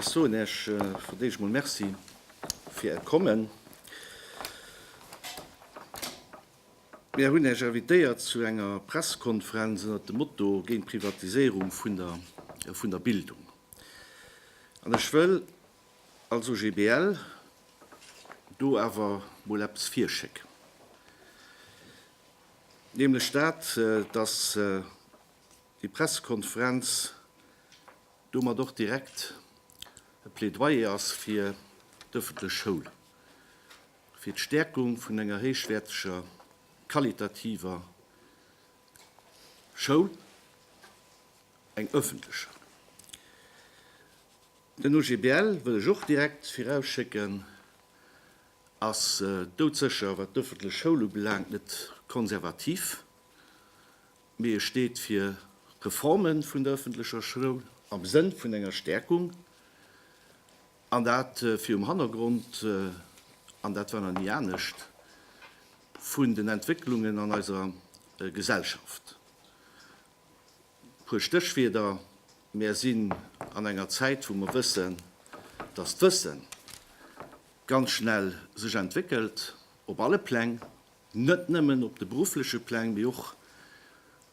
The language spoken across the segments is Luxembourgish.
Ech soen Iech fir d'éischt emol Merci fir Äert Kommen. Mir hunn Iech invitéiert zu enger Pressekonferenz ënnert dem Motto Géint d'Privatiséierung vun der Bildung. An ech wëll Also GBL, do awer mol eppes virschéck, nämlech dat, dass déi Pressekonferenz domat och direkt e Plädoyer ass fir d'öffentlech Schoul, fir d'Stärkung vun enger héichwäerteger, qualitativer Schoul, eng öffentlecher. Den OGBL, wëll ech och direkt virausschécken, ass doudsécher, wat d'ëffentlech Schoul ubelaangt, net konservativ, mee e steet fir Reforme vun der ëffentlecher Schoul am Sënn vun enger Stäerkung, an dat virum Hannergrond, an dat war nach ni anescht, vun den Entwécklungen an eiser Gesellschaft. E puer Stéchwierder, Mär sinn an enger Zäit, wou mer wëssen, dass d'Wësse ganz schnell sech entwéckelt, op alle Pläng, net nëmmen op de beruffleche Pläng, mee och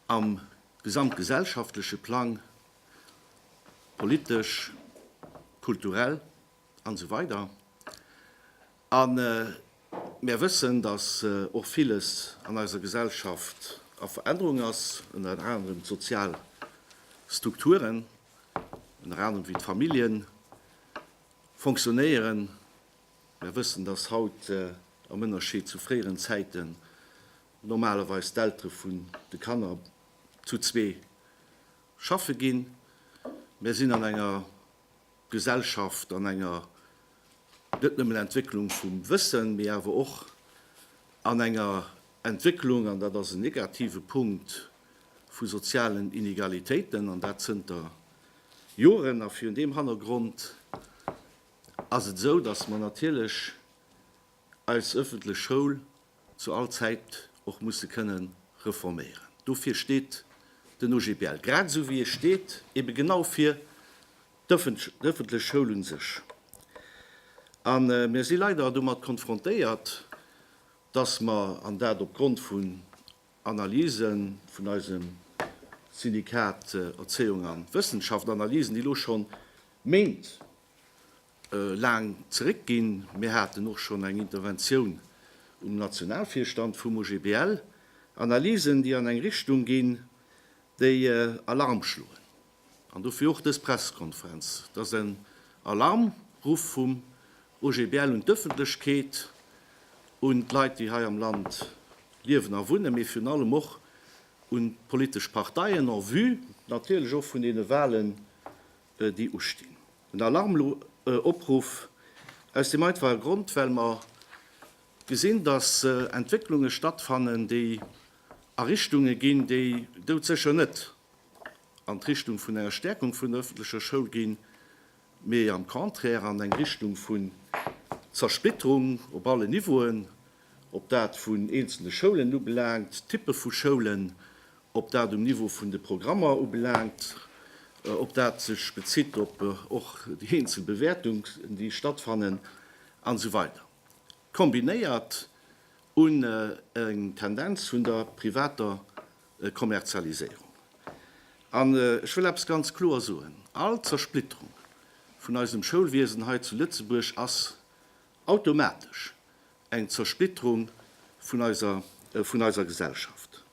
am gesamtgesellschaftleche Plang, politesch, kulturell an esou weider. A mär wëssen, datt och villes an eiser Gesellschaft a Verännerung ass, ënnert anerem d'sozial Strukturen, ënnert anerem wéi d'Famillje fonctionnéieren. Mär wëssen, datt haut, am Ënnerscheed zu fréieren Zäiten, normalerweis d'Eltere vun de Kanner zu zwee schaffe ginn. Mär sinn an enger Gesellschaft, an enger Net nëmmen Entwécklung vum Wëssen, mee awer och an enger Entwécklung, an dat ass en negative Punkt, vu sozialen Inegalitéiten, an dat zënter Joren. A virun deem Hannergrond ass et esou, dass mer natierlech eis ëffentlech Schoul zu all Zäit och musse kënne reforméieren. Dofir steet den OGBL, grad esou wéi e steet ebe genau fir d'ëffentlech Schoul u sech. A mir si leider domat konfrontéiert, dass mer, an dat opgrond vun Analyse vun eisem Syndikat Erzéiung a Wëssenschaft, Analysen, déi elo scho Méint laang zeréck ginn. Mir haten och schonn eng Interventioun um Nationalvirstand vum OGBL, Analysen, déi an eng Richtung ginn, déi Alarm schloen. An dofir och dës Pressekonferenz. Et ass en Alarmruff vum OGBL un d'Ëffentlechkeet, un d'Leit, déi hei am Land liewen a wunnen, mee virun allem och un d'politesch Parteien en vue natierlech och vun deene Wahlen déi ustinn. En Alarmopruff aus deem einfache Grond, well mer gesinn, dass Entwécklunge stattfannen, déi a Richtunge ginn, déi doudsécher net an d'Richtung vun enger Stäerkung vun der öffentlecher Schoul ginn, mee am Contraire an eng Richtung vun Zersplitterung op allen Niveauen, ob dat vun eenzelne Schoulen ubelaangt, Typpe vu Schoulen ob dat um Niveau vun de Programmer ubelaangt, ob dat sech bezitt op och déi eenzel Bewäertungen, déi stattfannen, an esou weider kombinéiert un eng Tendenz vun der privater Kommerzialiséierung. An ech wëll eppes ganz kloer soen, All Zersplitterung vun eisem Schoulwiesen hei zu Lëtzebuerg ass Automatesch eng Zersplitterung vun eiser, vun eiser Gesellschaft.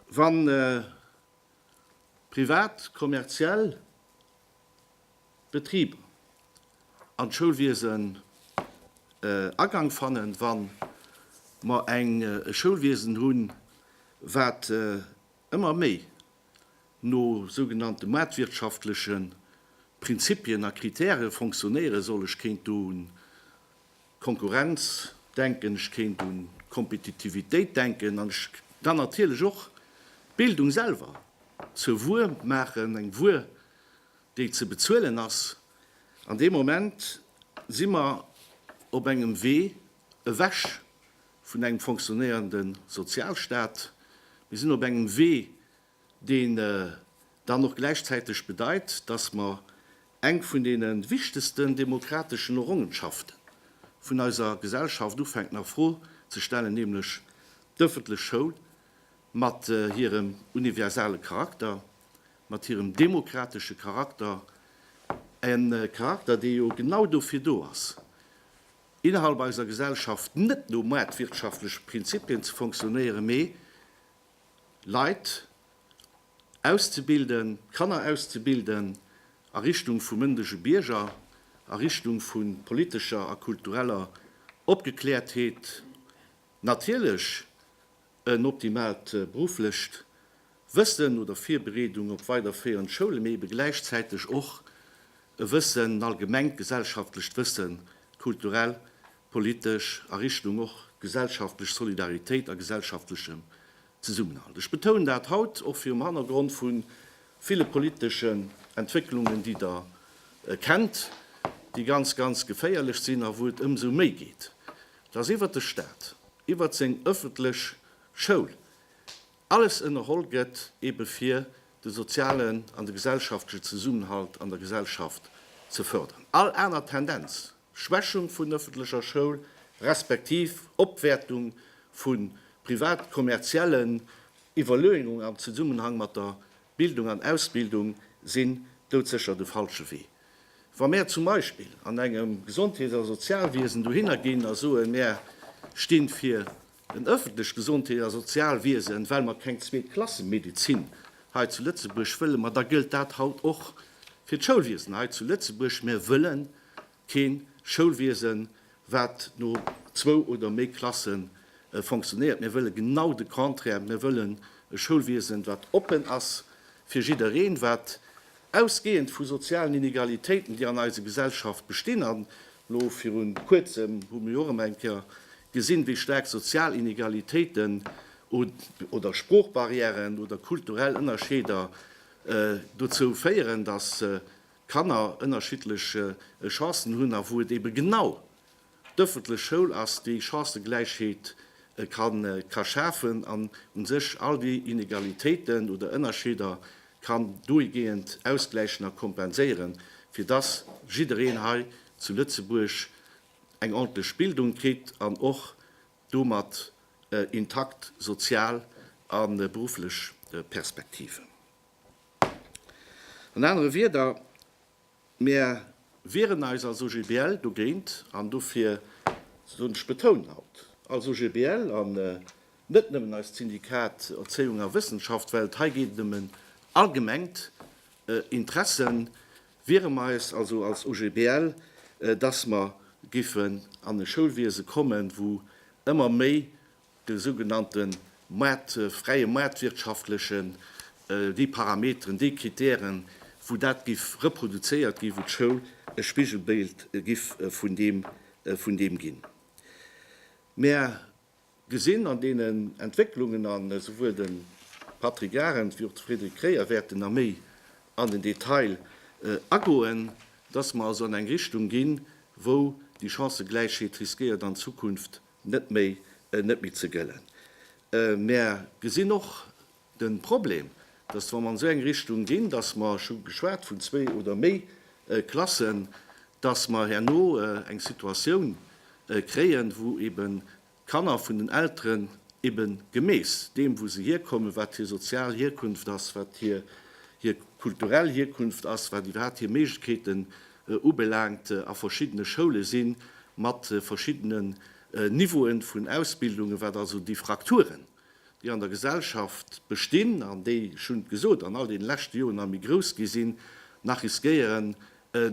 Wann privat, kommerziell Betriber an d'Schoulwiesen Agank fannen, wann mer eng, e Schoulwiesen hunn, wat ëmmer méi no sougenannte maartwirtschaftleche Prinzipien a Kritäre fonctionnéiere soll. Ech kéint do un d'Konkurrenz denken, ech kéint un d'Kompetitivitéit denken an ech kann natierlech och d'Bildung selwer zur Wuer maachen, eng Wuer, déi ze bezuelen ass. An deem Moment si mer op engem Wee ewech vun engem fonctionnéierende Sozialstaat. Mir sinn op engem Wee, deen dann och gläichzäiteg bedeit, dass mer eng vun deene wichtegsten demokrateschen Errongenschafte vun eiser Gesellschaft ufänken a Fro ze stellen, nämlech d'ëffentlech Schoul mat hirem universale Charakter, mat hirem demokratesche Charakter, e Charakter, dee jo genau dofir do ass, innerhalb eiser Gesellschaft net no maartwirtschaftleche Prinzipien ze funktionéieren, mee Leit auszebilden, Kanner auszebilden a Richtung vu mëndege Bierger, a Richtung vu politescher a kultureller Opgeklärtheet, natierlech En optimaalt berufflecht Wëssen oder Virbereedung op weiderféierend Schoule mee ebe gläichzäiteg och e Wëssen, en allgemengt gesellschaftlecht Wëssen, kulturell, politesch, a Richtung och gesellschaftlech Solidaritéit a gesellschaftlechem Zesummenhalt. Ech betounen dat haut och virum Hannergrond vu ville politeschen Entwécklungen, déi Der kennt, déi ganz, ganz geféierlech sinn a wou et ëmsou méi geet, Dass iwwert de Staat, iwwert seng ëffentlech Schoul alles ënnerholl gëtt ebe fir de sozialen an de gesellschaftlechen Zesummenhalt an der Gesellschaft ze fërderen. All aner Tendenz, Schwächung vun ëffentlecher Schoul, respektiv Opwäertung vu privat-kommerziellen Iwwerleungung am Zesummenhang mat der Bildung an Ausbildung sinn doudsécher de falsche Wee. Wa mär zum Beispill an engem Gesondheets a Sozialwiesen dohinner ginn a soen, mär sti fir en öffentlecht Gesondheets a Sozialwiesen, well mer keng Zweet-Klasse-Medezin hei zu Lëtzebuerg wëllen, ma da gëllt dat haut och fir d'Schoulwiesen hei zu Lëtzebuerg, mär wëllen Kee Schoulwiesen, wat no zwou oder méi Klasse fonctionéiert. Mir wëlle genau de Contraire. Mir wëllen e Schoulwiesen, wat oppen ass fir jiddereen, wat ausgehend vu sozialen Inegalitéiten, déi an eise Gesellschaft bestinn, an elo viru Kuerzem hu mir jo och ëm eng Kéier gesinn, wéi staark sozial Inegalitéiten oder Sproochbarrièren oder kulturell Ënnerscheeder dozou féieren, dass Kanner ënnerschiddlech Chancen hunn a wou et eebe genau d'ëffentlech Schoul ass, déi Chancëgläichheet ka schafen an u sech all déi Inegalitéiten oder Ënnerscheeder kann dohigehend ausgläichen a kompenséieren, fir dass jiddereen hei zu Lëtzebuerg eng ordntlech Bildung kritt an och domat intakt sozial a berufflech Perspektiven. An anere Wieder, mir. Wieren eis als OGBL dogéint an dofir soen, ech betounen haut als OGBL an net nëmmen eist Syndikat Erzéiung a Wëssenschaft, well hei geet et ëm en allgemengt Interesse, wiere mer eis also als OGBL, dass mer géifen an e Schoulwiese kommen, wou ëmmer méi de sougenannte Maart, fräie maartwirtschaftleche déi Parameteren, déi Kritären, wou dat giff reproduzéiert ginn, wou d'Schoul e Spigelbild giff vun deem, vun deem ginn. Mer gesinn an deenen Entwécklungen, an esouwuel de Patrick Arendt wéi och de Frédéric Kreyer wäerten nach méi an den Detail agoen, dass mer also an eng Richtung ginn, wou déi Chancëgläichheet riskéiert an Zukunft net méi net méi ze gëllen. Mär gesinn och de Problem, dass wa mer an esou eng Richtung ginn, dass mer, ech hu geschwat vun zwee oder méi Klassen, dass mer herno eng Situatioun kréien, wou eben d'Kanner vun den Elteren eben gemäss deem wou se hierkommen, wat hir sozial Hierkunft ass, wat hir kulturell Hierkunft ass, wat iwwerhaapt hir Méiglechkeete ubelaangt a verschiddene Schoule si mat verschiddenen Niveaue vun Ausbildungen, wat also déi Frakturen, déi an der Gesellschaft bestinn an déi, ech hunn et gesot, an all deene leschte Joren nach méi grouss gi sinn, nach riskéieren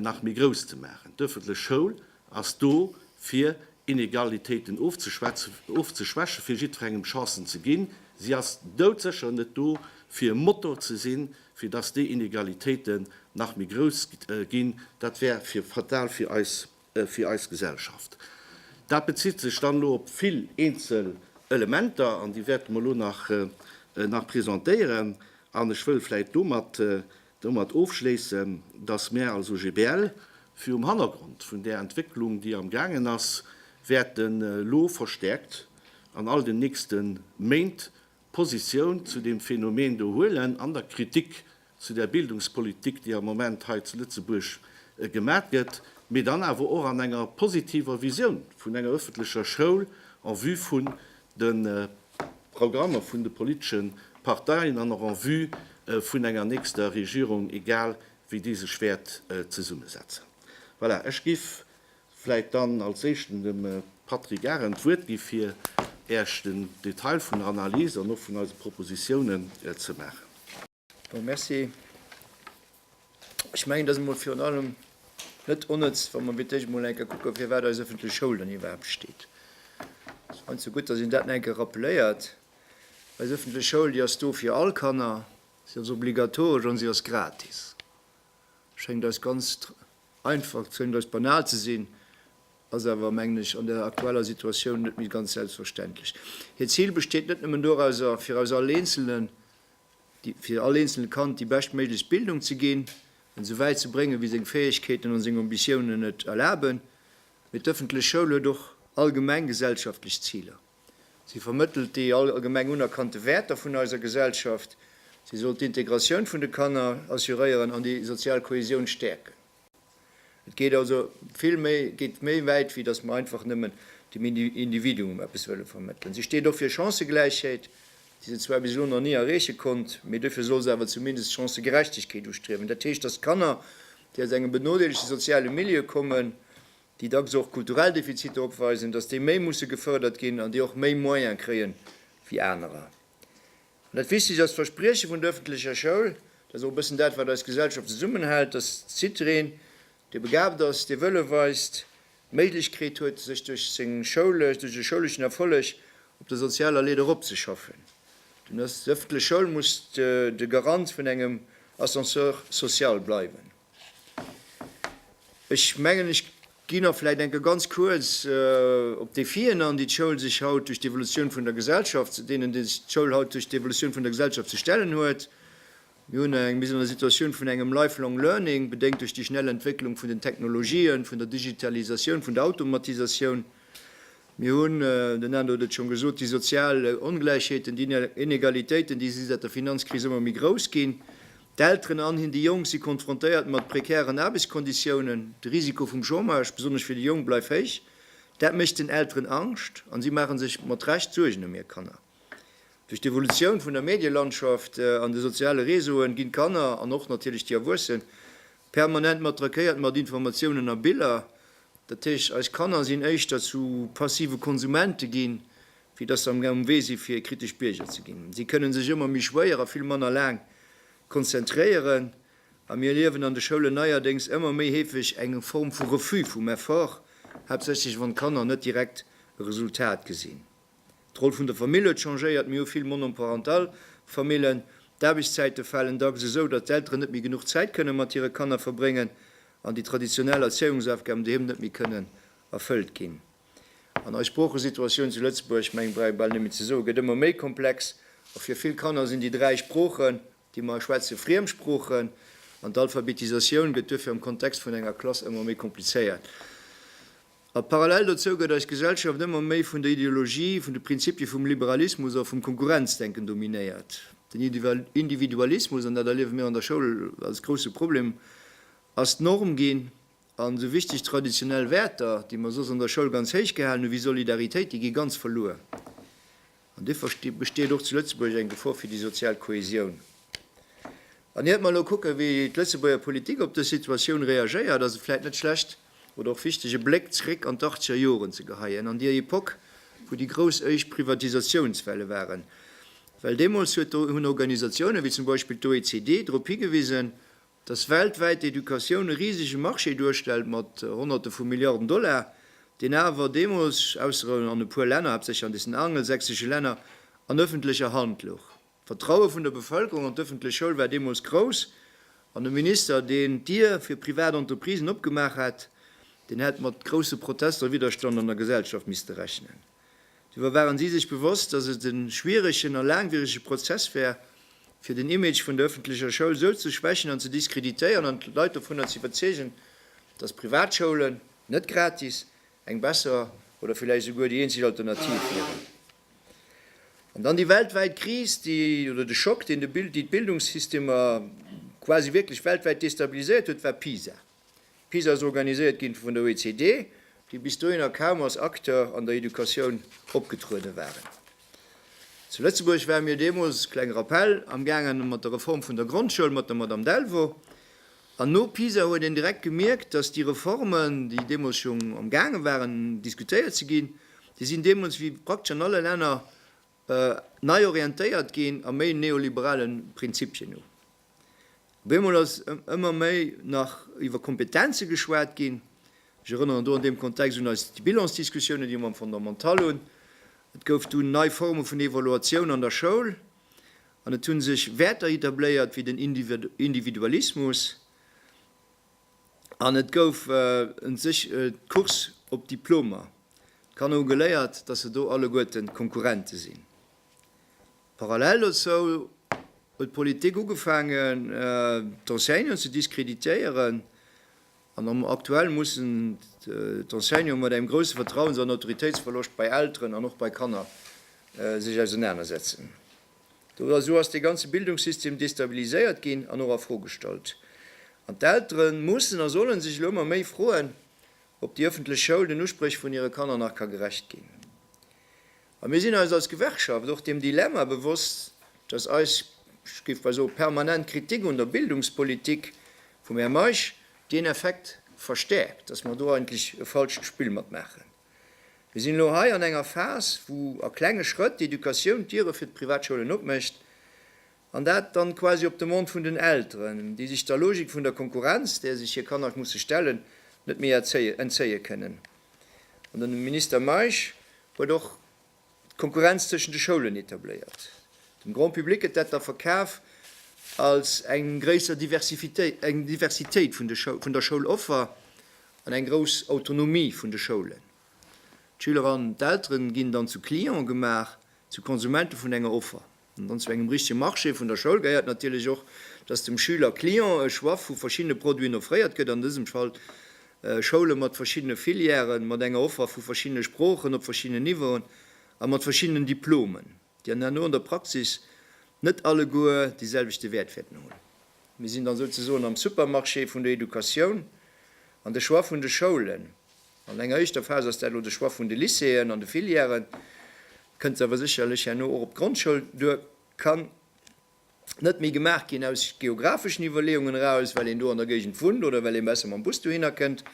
nach méi grouss ze maachen. D'öffentlech Schoul ass do fir Inegalitéiten ofzeschwächen, fir jiddwerengem Chancen ze ginn. Si ass doudsécher net do fir e Motor ze sinn fir dass déi Inegalitéiten nach méi grouss ginn. Dat wär fatal fir eis Gesellschaft. Dat bezitt sech dann elo op vill eenzel Elementer, an déi wäerte mer elo nach presentéieren. An ech wëll vläicht domat ofschléissen, dass mär als OGBL virum Hannergrond vun där Entwécklung, déi am gaangen ass, wäerten elo verstäerkt an all den nächste Méint Positioun zu deem Phänomen do huelen an der Kritik zu där Bildungspolitik, déi am Moment hei zu Lëtzebuerg gemat gëtt, mee dann awer och an enger positiver Visioun vun enger öffentlecher Schoul en vue vun de Programmer vun de politesche Parteien an och en vue vun enger nächster Regierung, egal wéi déi sech wäert zesummesetzen. Voilà, ech giff Vläit dann als Éischten dem Patrick Arendt d'Wuert gi fir Äech den Detail vun der Analys an och vun eise Propositiounen ze maachen. Jo, merci. Ech mengen, et ass emol virun allem net onnëtz, wa mer wierklech emol eng Kéier kucke firwat eis öffentlech Schoul dann iwwerhaapt steet. Ech fannen se gutt, datt een dat nach eng Kéier rappeléiert. Eis öffentlech Schoul, déi ass do fir all Kanner, si ass obligatoresch an si ass gratis. Schéngt eis ganz Einfach ze hunn, eis banal ze sinn, ass awer, mengen ech, an der aktueller Situatioun net méi ganz selbstverständlech. Hiert Zil besteet net nëmmen dorauser, fir eis all Eenzelen, fir all eenzele Kand déi beschtméiglechst Bildung ze ginn, en esou wäit ze bréngen, wéi seng Fäegkeeten an seng Ambitiounen et erlaben, mee d'ëffentlech Schoul huet och allgemeng gesellschaftlech Ziler. Si vermëttelt déi allgemeng unerkannte Wäerter vun eiser Gesellschaft. Si soll d'Integratioun vun de Kanner assuréieren an déi sozial Kohäsioun stäerken. Et geet also vill méi, geet méi wäit, wéi datt mer einfach nëmmen dem Individuum eppes wëlle vermëttelen. Si steet och fir Chancëgläichheet, déi se zwar bis elo nach ni erreeche konnt, mee dofir soll se awer zumindest Chancëgerechtegkeet ustriewen. Dat heescht, datt Kanner, déi aus engem benodeelegte soziale Milieu kommen, déi dacks och kulturell Defiziter opweisen, datt déi méi musse gefërdert ginn an déi och méi Moyen kréie wéi anerer. An dat Wichtegst ass, d'Versprieche vun der ëffentlecher Schoul, dat ass och e bëssen dat, wat eis Gesellschaft zesummenhält, datt jiddwereen, dee begaabt ass, dee Wëlle weist, d'Méiglechkeet huet, sech duerch seng schoulesch, duerch e schouleschen Erfolleg op der sozialer Leeder eropzeschaffen. Dunn ass d'ëffentlech Schoul muss de Garant vun engem Ascenseur social bleiwen. Ech mengen, ech gi nach vläicht enke ganz kuerz op d'Defien an, déi d'Schoul sech haut duerch d'Evolutioun vun der Gesellschaft, deenen déi sech d'Schoul haut duerch d'Evolutioun vun der Gesellschaft ze stellen huet. Mir hunn eng, mir sinn an der Situatioun vun engem lifelong learning, bedéngt duerch déi schnell Entwécklung vun den Technologien, vun der Digitalisatioun, vun der Automatisatioun. Mir hunn, den André huet et schonn gesot, déi sozial Ongläichheeten, déi Inegalitéiten, déi si säit der Finanzkris ëmmer méi grouss ginn. D'Elteren an hin déi Jonk si konfrontéiert mat prekären Aarbechtskonditiounen. De Risiko vum Chômage, besonnesch fir déi Jonk, bleift héich. Dat mécht den Elteren Angscht an si maache sech mat Recht Suergen ëm hir Kanner. Duerch d'Evolutioun vun der Medielandschaft an de soziale Réseauen ginn d'Kanner, an och natierlech déi Erwuessen, permanent mat trackéiert mat Informatiounen a Biller. Dat heescht, eis Kanner sinn éischter zu passive Konsumente ginn, Fir dass se am um Wee si fir kritesch Bierger ze ginn. Si kënne sech ëmmer méi schwéier a vill manner laang konzentréieren. A mir erliewen an de Schoulen neierdéngs ëmmer méi heefeg eng Form vu Refus vum Effort, haaptsächlech wann d'Kanner net direkt e Resultat gesinn. D'Roll vun der Famill huet changéiert, mir hu vill monoparental Famillen. D'Aarbechtszäite falen dacks esou, datt d'Elteren net méi genuch Zäit kënne mat hire Kanner verbréngen an déi traditionell Erzéiungsaufgaben doheem net méi kënnen erfëllt ginn. An eis Sproochesituatioun zu Lëtzebuerg, ech mengen, brauch ee bal net méi ze soen, gëtt ëmmer méi komplex. A fir vill Kanner sinn déi dräi Sproochen, déi mer hei schwätzen, Friemsproochen. An d'Alphabetisatioun gëtt duerfir am Kontext vun enger Klass ëmmer méi komplizéiert. A parallel dozou gëtt eis Gesellschaft ëmmer méi vun der Ideologie, vun de Prinzipie vum Liberalismus a vum Konkurrenzdenken dominéiert. Den Individualismus, an dat erliewe mir an der Schoul als grousse Problem, ass d'Norm ginn. An esou wichteg traditionell Wäerter, déi mer soss an der Schoul ganz héich gehalen hunn, wéi Solidaritéit, déi gi ganz verluer. An duerfir besteet och zu Lëtzebuerg eng Gefor fir déi sozial Kohäsioun. An hiert mer elo kucken, wéi d'Lëtzebuerger Politik op dës Situatioun reagéiert, ass et vläicht net schlecht oder och wichteg, e Bléck zréck an d'Achtzeger Joren ze geheien, an déi Epoque, wou déi grouss éischt Privatisatiounswelle waren. Well deemools hunn Organisatiounen, wéi zum Beispill d'OECD, drop higewisen, Dass weltwäit d'Educatioun e risege Marché duerstellt mat Honnerte vu Milliarden Dollar, deen awer deemools, ausser an e puer Länner, haaptsächlech an deenen angelsächsesche Länner, an ëffentlecher Hand louch. D'Vertraue vun der Bevëlkerung an d'ëffentlech Schoul war deemools grouss an e Minister, deen d'Dier fir privat Entreprisen opgemaach hätt, deen hätt mat grousse Protester a Widderstand an der Gesellschaft misste rechnen. Doriwwer waren si sech bewosst, datt et e schwieregen a laangwierege Prozess wär, fir den Image vun der ëffentlecher Schoul esou ze schwächen an ze diskreditéieren an d'Leit dovunner ze iwwerzeegen, datt Privatschoulen, net gratis, eng besser oder villäicht esouguer déi eenzeg Alternativ wieren. An dann déi weltwäit Kris, déi, oder de Schock, deen de, déi d'Bildungssystemer quasi wierklech weltwäit destabiliséiert huet, war PISA. PISA ass organiséiert ginn vun der OECD, déi bis dohinner kaum als Acteur an der Educatioun opgetruede waren. Zu Lëtzebuerg ware mir deemools, kleng Rappell, am gaangen mat der Reform vun der Grondschoul mat der Madame Delvaux. An no PISA huet een direkt gemierkt, datt déi Reformen, déi deemools schonn am gaange waren diskutéiert ze ginn, déi sinn deemools wéi praktesch an alle Länner Nei orientéiert ginn a méi neoliberale Prinzipien hu. Op eemol ass ëmmer méi nach iwwer Kompetenze geschwat ginn. Ech erënneren do an deem Kontext un eis Bilans-Diskussiounen, déi mer am Fondamental hunn. Et gouf dunn nei Forme vun Evaluatioun an der Schoul an et hu sech Wäerter etabléiert wéi den Individualismus. an et gouf en sech d'Course op d'Diplomer. D'Kanner hu geléiert, dass se do alleguerten Konkurrente sinn. Parallel dozou huet d'Politik ugefaangen d'Enseignanten ze diskreditéieren an aktuell mussen d'Enseignanten mat engem grousse Vertrauens an Autoritéitsverloscht bei Elteren an och bei Kanner sech ausenanersetzen. Dora, Esou ass dee ganze Bildungssystem destabiliséiert ginn an och a Fro gestallt. An d'Eltere mussen a solle sech elo ëmmer méi froen, ob déi ëffentlech Schoul den Uspréch vun hire Kanner nach ka gerecht ginn. A mir sinn eis als Gewerkschaft och deem Dilemma bewosst, datt eis, ech géif bal soe permanent Kritik un der Bildungspolitik vum Här Meisch, deen Effekt verstärkt, datt mer do eigentlech e falscht Spill matmaachen. Mir sinn elo hei an enger Phas, wou a klenge Schrëtt d'Educatioun d'Diere fir d'Privatschoulen opmécht, an dat dann quasi op Demande vun den Elteren, déi sech der Logik vun der Konkurrenz, där sech hir Kanner musse stellen, net méi entzéie kënnen. An den Minister Meisch huet och d'Konkurrenz tëschent de Schoulen etabléiert. Dem Grand Public gëtt dat da verkaf als eng gréisser Diversitéit vun der Schouloffer an eng grouss Autonomie vun de Schoulen. D'Schüler an d'Eltere ginn dann zu Cliente gemaach, zu Konsumente vun enger Offer. An zu engem richtege Marché vun der Schoul gehéiert natierlech och, dass dem Schüler, Client, e Choix vu verschiddene Produiten offréiert gëtt, an dësem Fall Schoule mat verschiddene Filièren, mat enger Offer vu verschiddene Sproochen op verschiddenen Niveauen a mat verschiddenen Diplomen, déi an herno an der Praxis net alleguer dee selwechte Wäert wäerten hunn. Mir sinn dann souzesoen am Supermarché vun der Educatioun, an de Choix vun de Schoulen, An enger éischter Phas ass dat elo de Choix vun de Lycéeën an de Filièren. Et kënnt awer sécherlech herno och op d'Grondschoul duer. Et kann net méi gemaach ginn aus geografeschen Iwwerleeungen eraus, well een do an der Géigend wunnt oder well ee besser mam Bus dohinner kënnt,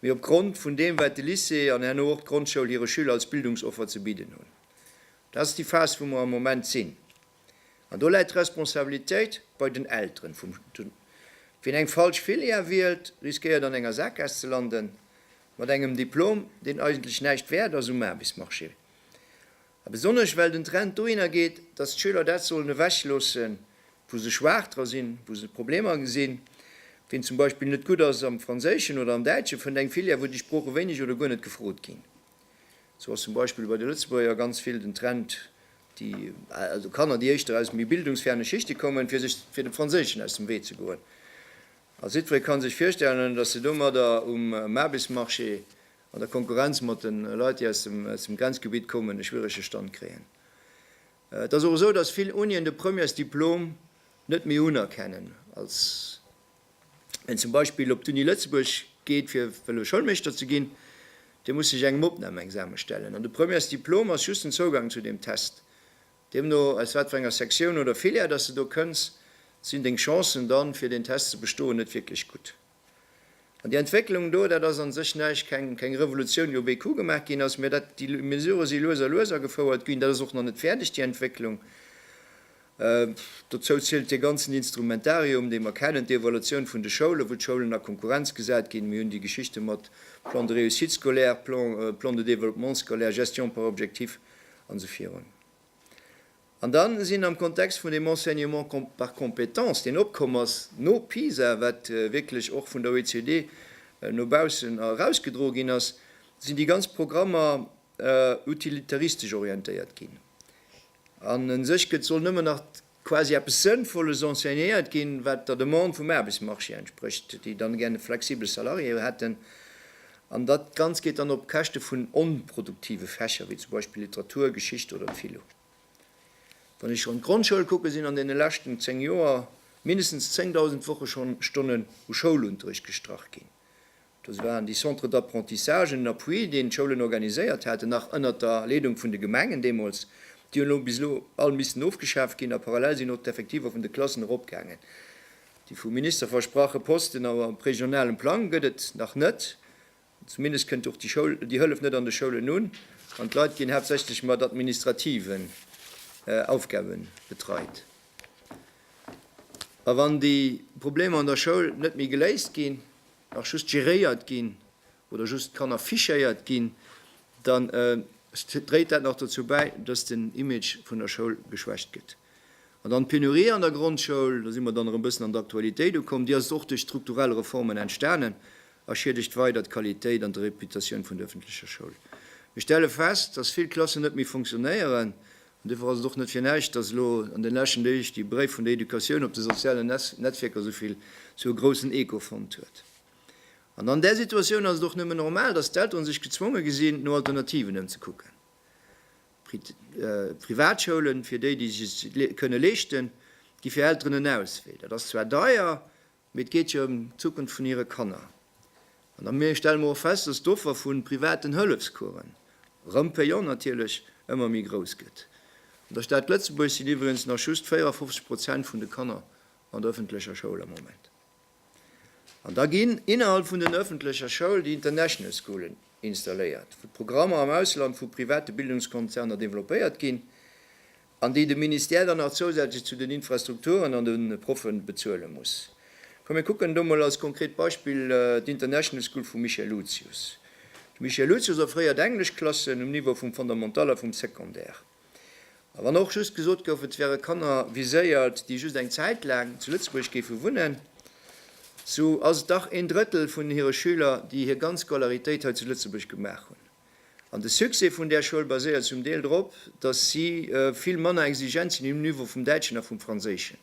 mee opgrond vun deem, wat de Lycée an herno och d'Grondschoul hire Schüler als Bildungsoffer ze bidden hunn. Dat ass déi Phas, wou mer am Moment sinn. An do läit d'Responsabilitéit bei den Elteren vum Jhn. Wien eng falsch Filière wielt, riskéiert an enger Sackgaass ze landen, mat engem Diplom, deen eigentlech näischt wäert ass um Aarbechtsmarché. A besonnesch well den Trend dohinner geet, datt d'Schüler dat sollen ewechloossen, wou se schwaach dra sinn, wou se Problemer gesinn. Wien zum Beispill net gutt ass am Franséischen oder am Däitsche, fënnt eng Filière, wou déi Sprooche wéineg oder guer net gefrot ginn. Sou ass zum Beispill bei de Lëtzebuerger ganz vill den Trend, déi, also Kanner, déi éischter aus méi bildungsferne Schichte kommen, fir sech fir dem Franséischen aus dem Wee ze goen. A jiddweree kann sech virstellen, datt se domadder um Aarbechtsmarché an der Konkurrenz mat de Leit, déi aus dem aus dem Grenzgebitt kommen, e schwierege Stand kréien. Et ass och esou, datt vill Unien de Premièresdiplom net méi unerkennen als. en zum Beispill op d'Uni Lëtzebuerg geet fir wëlle Schoulmeeschter ze ginn, dee muss sech engem Opnamexame stellen an de Premièresdiplom ass just den Zougang zu deem Test. Deemno aus wat fir enger Sektioun oder Filière dass de do kënns, sinn deng Chancen dann fir deen Test ze bestoen net wierklech gutt. An déi Entwécklung do, dat ass an sech näischt, keng keng Revolutioun déi op ee Coup gemaach ginn ass, mä dat déi Mesure si lues a lues agefouert ginn, dat ass och nach net fäerdeg déi Entwécklung. Dozou zielt dee ganzen Instrumentarium, dee mer kennen, d'Evaluatioun vun de Schoulen, wou d'Schoulen a Konkurrenz gesat ginn. Mir hunn déi Geschichte mat Plan de réussite scolaire, Plan de développement scolaire, Gestion par objectif an esou virun. An da sinn am Kontext vun deem Enseignement par compétences, deen opkomm ass no PISA, wat wierklech och vun der OECD no baussen erausgedroe ginn ass, sinn déi ganz Programmer utilitaristesch orientéiert ginn an en sech gëtt, soll nëmmen nach quasi eppes Sënnvolles enseignéiert ginn, wat der Demande vum Aarbechtsmarché entsprécht, déi dann gär e flexibele Salarié hätten. An dat Ganzt geet dann op Käschte vun onproduktive Fächer, wéi zum Beispill Literatur, Geschicht oder Philo. Wann ech an d'Grondschoul kucken, sinn an deene leschten 10 Joer mindestens 10.000 Wochestonnen u Schoulunterrecht gestrach ginn. Dës waren déi Centres d'apprentissage en appui, deen d'Schoulen organiséiert haten, nach ënnert der Leedung vun de Gemengen deemools. Déi hunn elo bis elo all missten ofgeschaaft ginn a parallel sinn och d'Effektiver vun de Klassen eropgaangen. Déi vum Minister versprache Posten am regionalen Plang gëtt et nach net, zumindest kënnt och déi Hëllef net an de Schoulen un an d'Leit ginn haaptsächlech mat administrativen Aufgabe betreit. A wann déi Problemer an der Schoul net méi geléist ginn, nach just geréiert ginn oder just d'Kanner fichéiert ginn, dann dréit dat nach dozou bäi, dass den Image vun der Schoul geschwächt gëtt. An dann d'Penurie an der Grondschoul, do si mer dann erëm e bëssen an d'Aktualitéit ukomm, déi ass och duerch strukturell Reformen entstanen a schiedegt weider d'Qualitéit an d'Reputatioun vun der ëffentlecher Schoul. Mir stelle fest, dass vill Klassen net méi funktionéieren An duerfir ass et och net fir näischt, dass elo an den leschten Deeg déi Bréif vun der Educatioun op de sozialen Netzwierker esouvill esou groussen Echo fonnt huet. An an där Situatioun ass et och nëmmen normal, dass d'Elteren sech gezwonge gesinn no Alternativen ëmzekucken. Privatschoulen, fir déi, déi sech se kënne leeschten, gi fir Elteren en Auswee. Dat ass zwar deier, Mee et geet jo ëm d'Zukunft vun hire Kanner. An da mir stelle mer och fest, dass d'Offer vu privaten Hëllefscoursen, erëm payant natierlech, ëmmer méi grouss gëtt. An der Stad Lëtzebuerg sinn iwwregens nach just 54 Prozent vun de Kanner an der ëffentlecher Schoul am Moment. An da ginn innerhalb vun den ëffentlecher Schoul déi International Schoolen installéiert, wou d'Programmer am Ausland vu private Bildungskonzerner developpéiert ginn, an déi de Ministère dann nach zousätzlech zu den Infrastrukturen an de Proffe bezuele muss. Komm mir kucken do mol als konkret Beispill d'International School vum Michel Lucius. De Michel Lucius a fréier d'Engleschklassen um Niveau vum Fondamental a vum Secondaire. A wann och just gesot gouf, et wäre Kanner viséiert, déi just eng Zäit laang zu Lëtzebuerg géife wunnen, sou ass et dach een Drëttel vun hire Schüler, déi hir ganz Scolaritéit hei zu Lëtzebuerg gemaach hunn. An de Succès vun där Schoul baséiert zum Deel drop, datt si vill manner exigent sinn um Niveau vum Däitschen a vum Franséischen.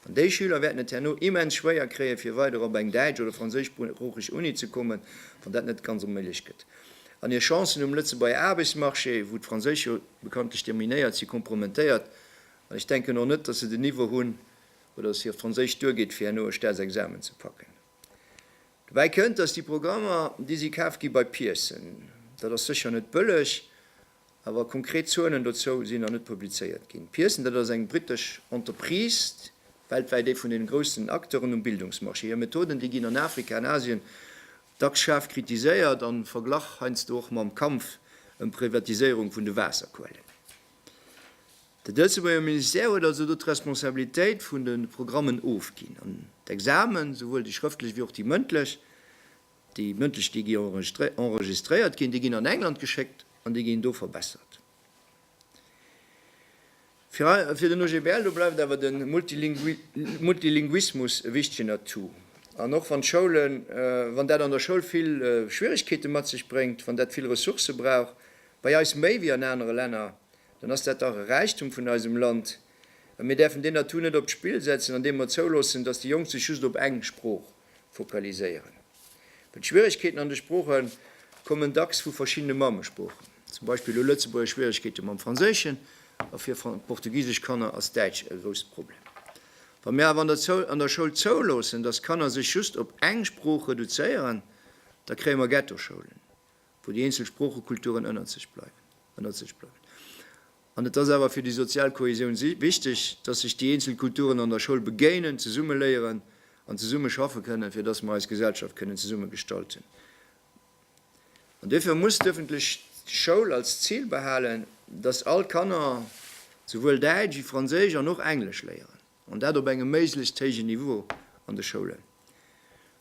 An déi Schüler wäerten et herno immens schwéier kréien, fir weider op eng däitsch oder franséischsproocheg Uni ze kommen, wann dat net ganz onméiglech gëtt. An hir Chancen um Lëtzebuerger Aarbechtsmarché, wou d'Franséisch jo bekanntlech dominéiert, si kompromentéiert. An ech denken och net, datt se den Niveau hunn oder datt hir Franséisch duergeet, fir herno e Staatsexamen ze packen. Dobäi kënnt, datt déi Programmer, déi si kaf gi bei Pearson, dat ass sécher net bëlleg, awer konkret Zuelen dozou sinn nach net publizéiert ginn. Pearson, dat ass eng britesch Entreprise, weltwäit ee vun deene groussen Acteuren um Bildungsmarché. Hir Methoden, déi ginn an Afrika an Asien dacks schaarf kritiséiert, am Verglach heiansdo och mam Kampf ëm d'Privatiséierung vun de Waasserquellen. De Lëtzebuerger Ministère huet also do d'Responsabilitéit vun de Programmen ofginn. An d'Examen, souwuel déi schrëftlech wéi och déi mëndlech, déi mëndlech, déi gi enregistréiert ginn, déi ginn an England geschéckt an déi ginn do verbessert. Fir den OGBL, do bleift awer de Multilinguismus e wichtegen Atout. An och wann d'Schoulen, wann dat an der Schoul vill Schwieregkeete mat sech bréngt, wann dat vill Ressourcë brauch, bei eis méi wéi an anere Länner, dann ass dat dach e Räichtum vun eisem Land a mir däerfen deen Atout net op d'Spill setzen, andeem mer zouloossen, datt déi Jonk sech just op eng Sprooch fokaliséieren. Well d'Schwieregkeeten an de Sprooche kommen dacks vu verschiddene Mammesproochen. Zum Beispill hu Lëtzebuerger Schwieregkeete mam Franséischen a fir portugisesch Kanner ass Däitsch e grousst Problem. Wa mir awer an der Schoul zouloossen, datt Kanner sech just op eng Sprooch reduzéieren, da kréie mer Ghettoschoulen wou déi eenzel Sproochekulturen ënnert sech bleiwen, ënnert sech bleiwen. An et ass awer fir déi sozial Kohäsioun si, wichteg, dass sech déi eenzel Kulturen an der Schoul begéinen, zesumme léieren an zesumme schaffe kënnen, fir dass mer eis Gesellschaft kënnen zesumme gestalten. An duerfir muss d'öffentlech Schoul als Zil behalen, dass all Kanner souwuel Däitsch wéi Franséisch an och Englesch léieren. An dat op engem méiglechst héijen Niveau an de Schoulen.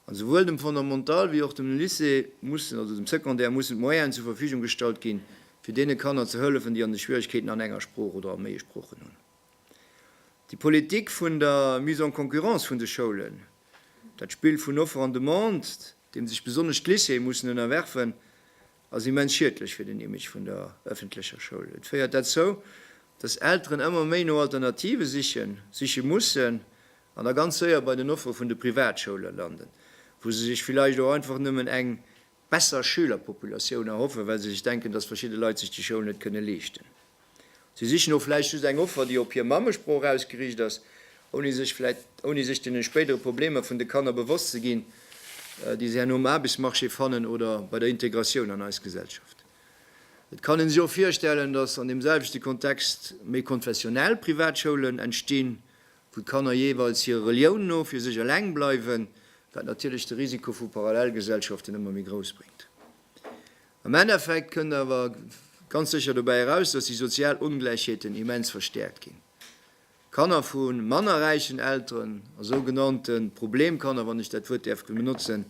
A souwuel dem Fondamental wéi och dem Lycée mussen, also dem Secondaire, mussen d'Moyenen zur Verfügung gestallt ginn, fir deene Kanner ze hëllefen, déi an de Schwierigkeeten an enger Sprooch oder a méi Sproochen hunn. Déi Politik vun der Mise en concurrence vun de Schoulen, dat Spill vun Offer an Demande, deem sech besonnesch d'Lycéeë mussen ënnerwerfen, ass immens schiedlech fir den Image vun der ëffentlecher Schoul. Et féiert derzou, dass Elteren ëmmer méi no Alternative sichen, siche mussen an da ganz séier bei den Offere vun de Privatschoule landen, wou se sech villäicht och einfach nëmmen eng besser Schülerpopulatioun erhoffen, well se sech denken, dass verschidde Leit sech déi Schoul net kënne leeschten. Si sichen och vläicht just eng Offer, déi op hir Mammesprooch ausgeriicht ass, ouni sech vläicht, ouni sech deene spéidere Problemer vun de Kanner bewosst ze ginn, déi se herno um Aarbechtsmarché fannen oder bei der Integratioun an eis Gesellschaft. Et kann een sech och virstellen, dass an deem selwechte Kontext méi konfessionell Privatschoulen entstinn, wou d'Kanner jeeweils hirer Relioun no fir sech eleng bleiwen, wat natierlech de Risiko vu Parallelgesellschaften ëmmer méi grouss bréngt. Am Endeffekt kënnt awer ganz sécher dobäi eraus, dass déi sozial Ongläichheeten immens verstäerkt ginn. Kanner vu manner räichen Elteren a sou genannte Problemkanner, wann ech dat Wuert däerf benotzen,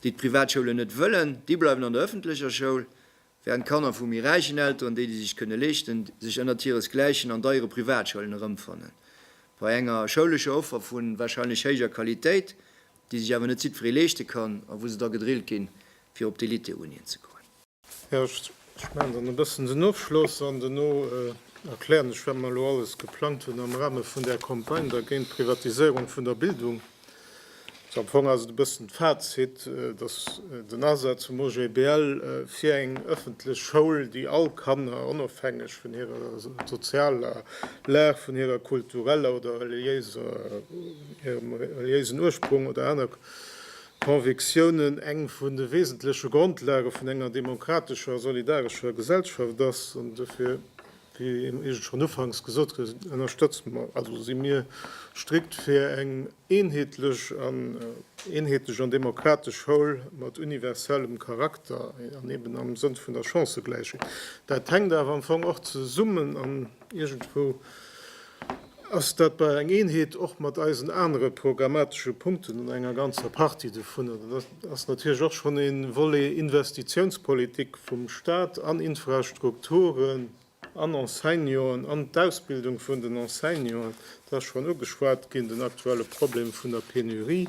déi d'Privatschoulen net wëllen, déi bleiwen an der ëffentlecher Schoul, während Kanner vu méi räichen Elteren, déi déi sech kënne leeschten, sech ënnert hiresgläichen an deiere Privatschoulen erëmfannen, bei enger schoulescher Offer vu warscheinlech héijer Qualitéit, déi sech awer net jiddweree leeschte kann a wou se da gedrillt ginn, fir op d'Eliteunien ze goen. Jo, ech maachen dann e bëssen den Ofschloss an duerno erklären ech, wat mer elo alles geplangt hunn am Rahme vun där Campagne da géint d'Privatiséierung vun der Bildung. Also am Fong ass et e bëssen d'Fazit, dass den Asaz vum OGBL fir eng ëffentlech Schoul, déi all Kanner, onofhängeg vun hirer sozialer Lag, vun hirer kultureller oder reliéiser. hirem reliéisen Ursprung oder aner Convictiounen, eng vun de wesentleche Grondlage vun enger demokratescher a solidarescher Gesellschaft ass. An dofir, wéi eis schonn ufanks gesot gouf, ënnerstëtze mer, also si mir strikt fir eng eenheetlech an eenheetlech an demokratesch Schoul mat universellem Charakter an eben am Sënn vun der Chancëgläichheet. Dat hänkt awer am Fong och zesummen an iergendwou, Ass dat bei eng Eenheet och mat eisen anere programmatesche Punkten an enger ganzer Partie dovunner, dann ass natierlech och schonn ee Volet Investitiounspolitik vum Stat an Infrastrukturen, an Enseignanten, an d'Ausbildung vun den Enseignanten, et ass schonn ugeschwat ginn den aktuelle Problem vun der Penurie.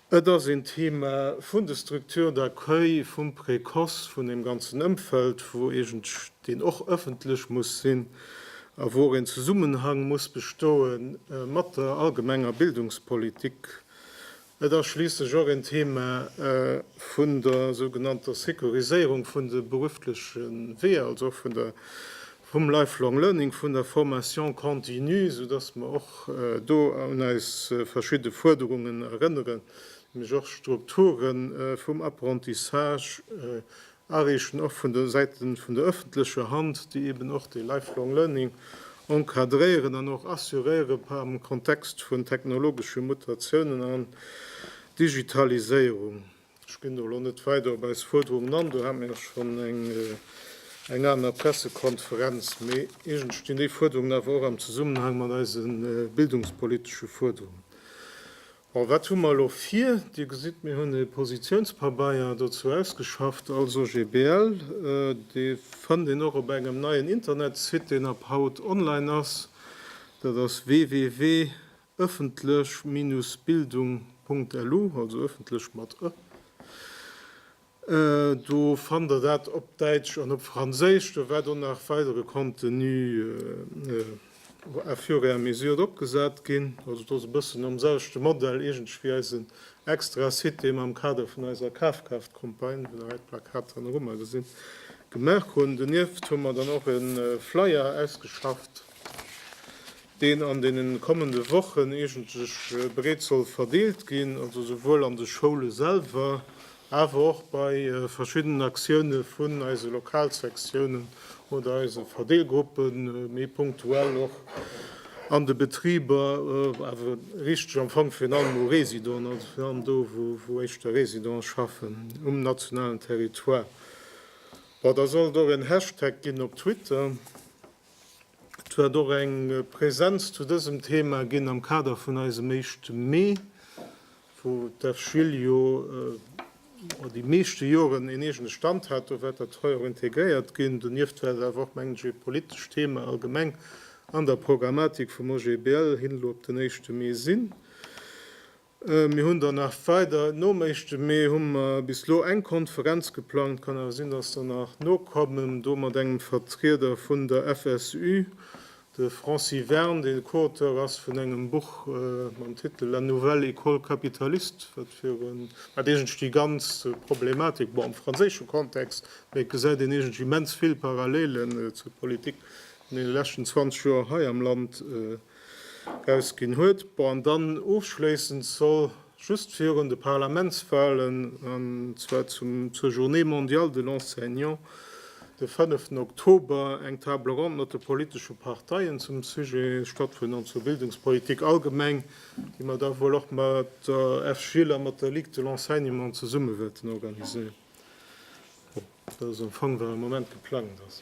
Et ass een Thema vun de Structures d'accueil, vum Précoce, vun deem ganzen Ëmfeld, wou iergendsch deen och ëffentlech muss sinn a wou och een Zesummenhang muss bestoe mat der allgemenger Bildungspolitik. Et ass schliisslech och een Thema vun der sougenannter Securiséierung vun de berufleche Weeër, also och vun der vum Lifelong Learning, vun der Formation continue, esou dass mer och do un eis verschidde Fuerderungen erënneren, nämlech och d'Strukture vum Apprentissage ariichten, och vun der Säite vun der öffentlecher Hand, déi eeben och de Lifelong Learning encadréieren an och assuréiere am Kontext vun technologesche Mutatiounen an Digitaliséierung. Ech ginn do elo net weider op eis Fuerderungen an. Do hate mir jo schonn eng aner Pressekonferenz. Mee iergend stinn déi Fuerderungen awer och am Zesummenhang mat eise bildungspolitesche Fuerderungen. Bon, wat hu mer elo vir? Dir gesitt, mir hunn e Positiounspabeier dozou ausgeschafft als OGBL. Dee fënnt een och op engem neien Internetsite, deen ab haut online ass. Dat ass www. Ëffentlech-Bildung.lu, also ëffentlech mat ë, do fannt der dat op Däitsch an op Franséisch. Do wäert och nach weidere Contenu à fur et à mesure opgesat ginn. Also et ass e bëssen nom selwechte Modell iergendwéi wéi eisen Extra-Site, dee mer am Kader vun eiser Kafkaaft-Campagne, wou der hei d'Plakat hanne ru mar gesitt, gemaach hunn. Donieft hu mer dann och e Flyer ausgeschafft, deen an deenen kommende Wochen eegentlech breet soll verdeelt ginn, also souwuel an de Schoule selwer, awer och bei verschiddenen Aktioune vun eise Lokalsektiounen oder eise Verdeelgruppen, méi punktuell och an de Betriber, awer richteg am Fong virun allem u Résidenten, also virun allem do, wou éischter Résidente schaffen um nationalen Territoire. Bon, da soll et och en Hashtag ginn op Twitter. Et huet och eng Präsenz zu dësem Thema ginn am Kader vun eisem éischte Mee, wou d'FGIL jo déi meeschte Joren een eegene Stand hat. Do war dat hei och integréiert ginn. Donieft war et awer och, mengen ech, ee politescht Thema allgemeng an der Programmatik vum OGBL hin elo op den éischte Mee sinn. Mir hunn dann nach weider Noméischte, mee hu mer bis elo eng Konferenz geplangt. Kann awer sinn, datt der nach nokommen. Do mat engem Vertrieder vun der FSU, de Francis Verne, deen Co-Auteur ass vun engem Buch mam Titel La nouvelle école capitaliste, wat virun, wat iergendwéi déi ganz Problematik, bon am franséische Kontext, mee et gesäit een iergendwéi immens vill Parallelen zur Politik an deene leschten 20 Joer hei am Land, erausginn huet. Bon, an dann ofschléissend soll just virun de Parlamentswahlen, an zwar zum, zur Journée mondiale de l'enseignant, de fënneften Oktober, eng Table ronde mat de politesche Parteien zum Sujet stattfannen, an zur Bildungspolitik allgemeng, déi mer da wuel och mat der FGIL a mat der Ligue de l'enseignement zesumme wäerten organiséieren. Dat ass am Fong, wat am Moment geplangt ass.